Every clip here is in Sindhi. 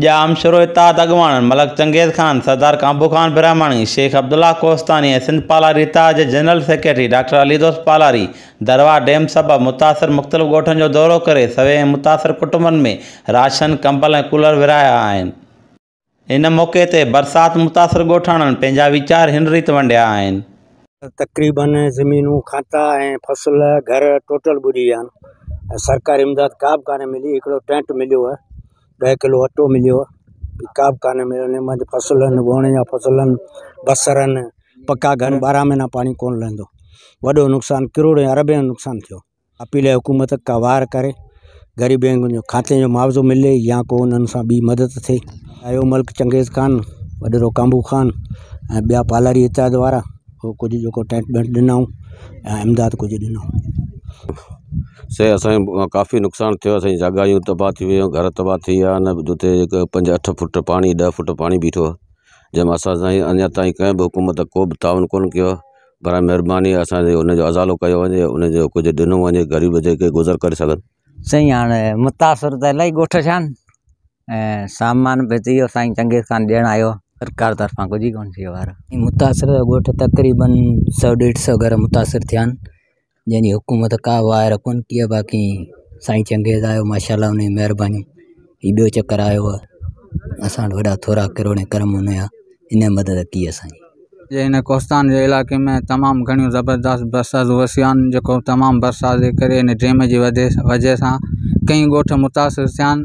ڄام شورو اتحاد اڳواڻن ملڪ چنگيز خان، سردار ڪانڀو خان برهماڻي، شيخ عبدالله ڪوهستاني ۽ سنڌ پالاري اتحاد جي general secretary doctor Ali Dost Palari دروا dam سبب متاثر مختلف ڳوٺن جو دورو ڪري سوين ۽ متاثر ڪٽنبن ۾ راشن، ڪمبل ۽ ڪولر ورهايا آهن. ان موقعي تي برسات متاثر ڳوٺاڻن پنهنجا ويچار هن ريت ونڊيا آهن. تقريبن زمينون کاتا ۽ فصل گهر ٽوٽل ٻڏي ويا آهن سرڪاري امداد ڪا به ڪانه ملي هڪڙو ٽينٽ مليو آهي ڏهه ڪلو اٽو مليو آهي ڪا به ڪانه مليو نه مانجي فصلن ووڻ يا فصلن بصرن پڪا گهر ٻارهن مهينا پاڻي ڪونه لهندو وڏو نقصان ڪروڙين اربين جو نقصان ٿيو اپيل آهي حڪومت ته وار ڪري غريبن جو کاتي جو معاوضو ملي يا ڪو انهن سان ٻي مدد ٿئي اهو ملڪ چنگيز خان وڏيرو ڪامبو خان ۽ ٻيا پالاري اتحاد وارا هو ڪجهه جيڪو ٽينٽ ٻينٽ ڏنائون ۽ امداد ڪجهه ڏنو سي اسانجو ڪافي نقصان ٿيو اسانجي جاگايون تباهه ٿي ويون گهر تباهه ٿي ويا ان جتي هڪ پنج اٺ فوٽ پاڻي ڏهه فوٽ پاڻي بيٺو جنهن مان اسان سائين اڃا تائين ڪنهن به حڪومت ڪو به تعاون ڪون ڪيو برائي مھرباني اسان جي ان جو ازالو ڪيو وڃي ان جو ڪجھ ڏنو وڃي غريب جيڪي گذر ڪري سگھن. سائين هاڻ متاثر ته الاهي ڳوٺ ڇا آهن ۽ سامان به اهو سائين چنگيز خان ڏيڻ آيو هو سرڪار طرفان ڪجهه ئي ڪونه ٿيو يار. متاثر ڳوٺ تقريبن سؤ ڏيڍ سؤ گهر متاثر ٿيا آهن. جنهن جي حڪومت ڪا واء رکون ڪي باقي سائين چنگيز آيو ماشاء الله ان جي مهرباني هي ٻيو چڪر آيو هو اسان وٽ وڏا ٿورا ڪروڙين ڪرم ان جا ان جي مدد ڪي اسانجي جي هن ڪوستان جي علائقي ۾ تمام گهڻيون زبردست برساتون وسيون آهن جيڪو تمام برسات جي ڪري ان ڊيم جي وجه سان ڪئين ڳوٺ متاثر ٿيا آهن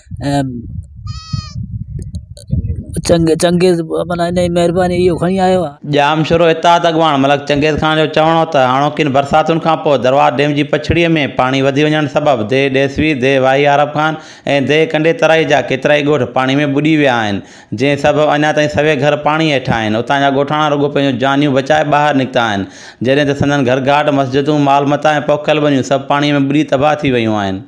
۽ چنگيز چنگيز معنيٰ انهيء مهربانيء اهو کڻي آيو آهي. ڄام شورو اتحاد اڳواڻ ملڪ چنگيز خان جو چوڻ هو ته هاڻوڪين برساتن کان پوء درواز ڊيم جي پڇڙيء ۾ پاڻي وڌي وڃڻ سبب ديهه ڏيسوي، ديهه واهي عارب خان ۽ ديهه ڪنڊي ترائي جا ڪيترائي ڳوٺ پاڻي ۾ ٻڏي ويا آهن، جنهن سبب اڃا تائين سوين گهر پاڻي هيٺ آهن، اتان جا ڳوٺاڻا رڳو پنهنجون جانيون بچائي ٻاهر نڪتا آهن، جڏهن ته سندن گهرگهاٽ، مسجدون، مال متا ۽ پوکيل ٻنيون سڀ پاڻيء ۾ ٻڏي تباهه ٿي ويون آهن.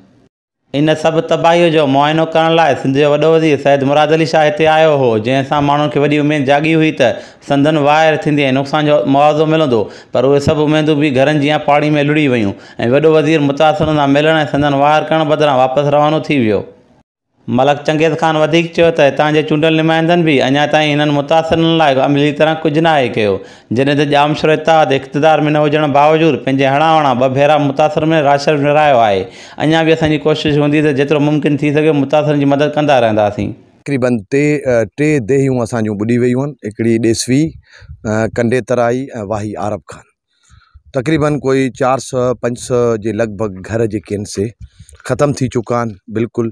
ان سڀ تباهيء جو معائنو ڪرڻ لاء سنڌ جو وڏو وزير سيد مراد علي شاهه هتي آيو هو، جنهن سان ماڻهن کي وڏي اميد جاڳي هئي ته سندن واهر ٿيندي ۽ نقصان جو معاوضو ملندو، پر اهي سڀ اميدون به گهرن جيان پاڻي ۾ لڙهي ويون ۽ وڏو وزير متاثرن سان ملڻ ۽ سندن واهر ڪرڻ بدران واپس روانو ٿي ويو. ملڪ چنگيز خان وڌيڪ چيو ته هتان جي چونڊيل نمائندن به اڃا تائين هنن متاثرن لاء عملي طرح ڪجهه ناهي ڪيو، جڏهن ته ڄامشورو اتحاد اقتدار ۾ نه هجڻ باوجود پنهنجي هڻا وڻا ٻه ڀيرا متاثرن ۾ راشن ورهايو آهي، اڃا به اسان جي ڪوشش هوندي ته جيترو ممڪن ٿي سگهي متاثرن جي مدد ڪندا رهنداسين. تقريباً ٽي ديهيون اسان جون ٻڏي ويون آهن، هڪڙي ڏيسوي، ڪنڊي ترائي ۽ واهي عارب خان. تقريباً ڪوئي چار سئو پنج سئو جي لڳ ڀڳ گهر جيڪي آهن سي ختم ٿي چڪا آهن بلڪل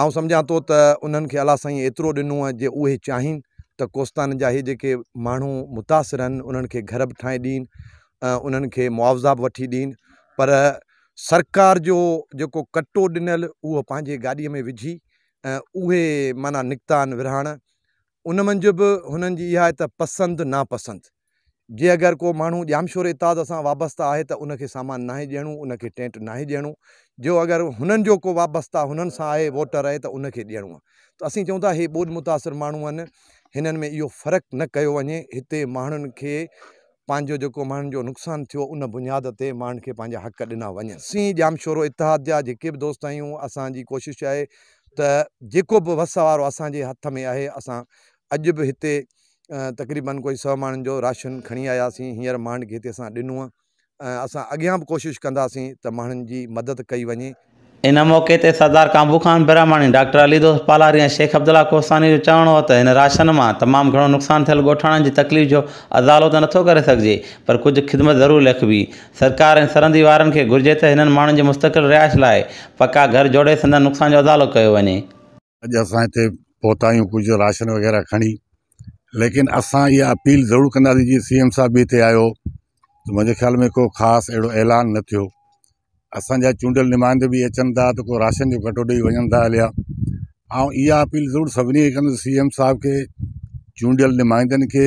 آئون سمجهان ٿو ته انهن کي الله سائين ايترو ڏنو ۽ جي اهي چاهين ته ڪوستان جا اهي جيڪي ماڻهو متاثر آهن انهن کي گهر به ٺاهي ڏين ۽ انهن کي معاوضا به وٺي ڏين پر سرڪار جو جيڪو ڪٽو ڏنل اهو پنهنجي گاڏي ۾ وجهي ۽ اهي معنيٰ نڪتا آهن ورهاڻ ان منجهه به هنن جي اها آهي ته پسند ناپسند جي اگر ڪو ماڻهو ڄامشوري اتحاد سان وابسته آهي ته ان کي سامان ناهي ڏيڻو، ان کي ٽينٽ ناهي ڏيڻو، جو اگر هنن جو ڪو وابسته هنن سان آهي ووٽر آهي ته ان کي ڏيڻو آهي ته اسين چئون ٿا هي ٻوڏ متاثر ماڻهو آهن هنن ۾ اهو فرق نه ڪيو وڃي هتي ماڻهن کي پنهنجو جيڪو ماڻهن جو نقصان ٿيو ان بنياد تي ماڻهن کي پنهنجا حق ڏنا وڃن. اسين ڄامشورو اتحاد جا جيڪي به دوست آهيون اسان جي ڪوشش آهي ته جيڪو به وس وارو اسان جي هٿ ۾ آهي اسان اڄ به هتي تقريبن ڪوئي سؤ ماڻهن جو راشن کڻي آياسين هينئر مانڊ کي هتي اسان ڏنو ۽ اسان اڳيان به ڪوشش ڪنداسين ته ماڻهن جي مدد ڪئي وڃي. ان موقعي تي سردار ڪانبو خان برهماڻي، ڊاڪٽر علي دوست پالاري ۽ شيخ عبدالله ڪوهستاني جو چوڻ هو ته هن راشن مان تمام گهڻو نقصان ٿيل ڳوٺاڻن جي تڪليف جو ازالو ته نٿو ڪري سگهجي پر ڪجهه خدمت ضرور ليکبي، سرڪار ۽ سرندي وارن کي گهرجي ته هنن ماڻهن جي مستقل رهائش لاء پڪا گهر جوڙي سندن نقصان جو ازالو ڪيو وڃي. اڄ اسان ھتي پھتا آھيون ڪجھه راشن وغيره کڻي ليڪن اسان اھا اپيل ضرور ڪنداسين جي سي ايم صاحب به ھتي آيو ته منھنجي خيال ۾ ڪو خاص اھڙو اعلان نه ٿيو اسانجا چونڊيل نمائندا به اچن ٿا ته ڪو راشن جو ڪٽو ڏئي وڃن ٿا ھليا آئون اھا اپيل ضرور سڀني کي ڪندس سي ايم صاحب کي چونڊيل نمائندن کي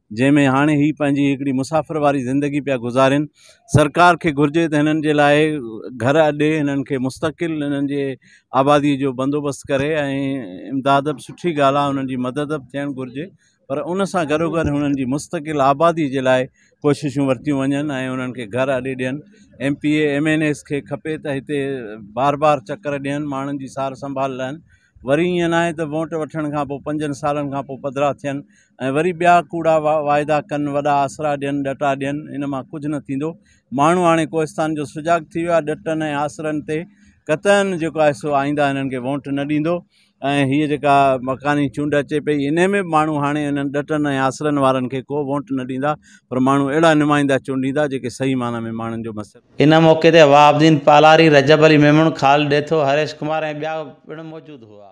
جنهن ۾ هاڻي هي پنهنجي هڪڙي مسافر واري زندگي پيا گذارين سرڪار کي گهرجي ته هنن جي لاء گهر ڏي هنن کي مستقل هنن جي آبادي جو بندوبست ڪري ۽ امداد به سٺي ڳالهه آهي هنن جي مدد به ٿيڻ گهرجي پر ان سان گڏو گڏ هنن جي مستقل آبادي جي لاء ڪوششون ورتيون وڃن ۽ هنن کي گهر اڏي ڏين M P A M N As کي کپي ته هتي بار بار چڪر ڏين ماڻهن جي سار سنڀال لهن وري ائين ناهي ته ووٽ وٺڻ کان پوء پنجن سالن کان پوء پڌرا ٿين ۽ وري ٻيا ڪوڙا واعدا ڪن وڏا آسرا ڏين ڏٽا ڏين ان مان ڪجهه نه ٿيندو ماڻهو هاڻي ڪوهستان جو سجاڳ ٿي ويو آهي ڏٽن ۽ آسرن تي قطعن جيڪو آهي سو آئينده هنن کي ووٽ نه ڏيندو ۽ هيء جيڪا مڪاني چونڊ اچي پئي ان ۾ به ماڻهو هاڻي انهن ڏٽن ۽ آسرن وارن کي ڪو ووٽ نه ڏيندا پر ماڻهو اهڙا نمائندا چونڊيندا جيڪي صحيح معنيٰ ۾ ماڻهن جو مس ان موقعي تي وهاب الدين پالاري، رجب علي ميمڻ، خالد ڏيٿو، هريش ڪمار ۽ ٻيا پڻ موجود هئا.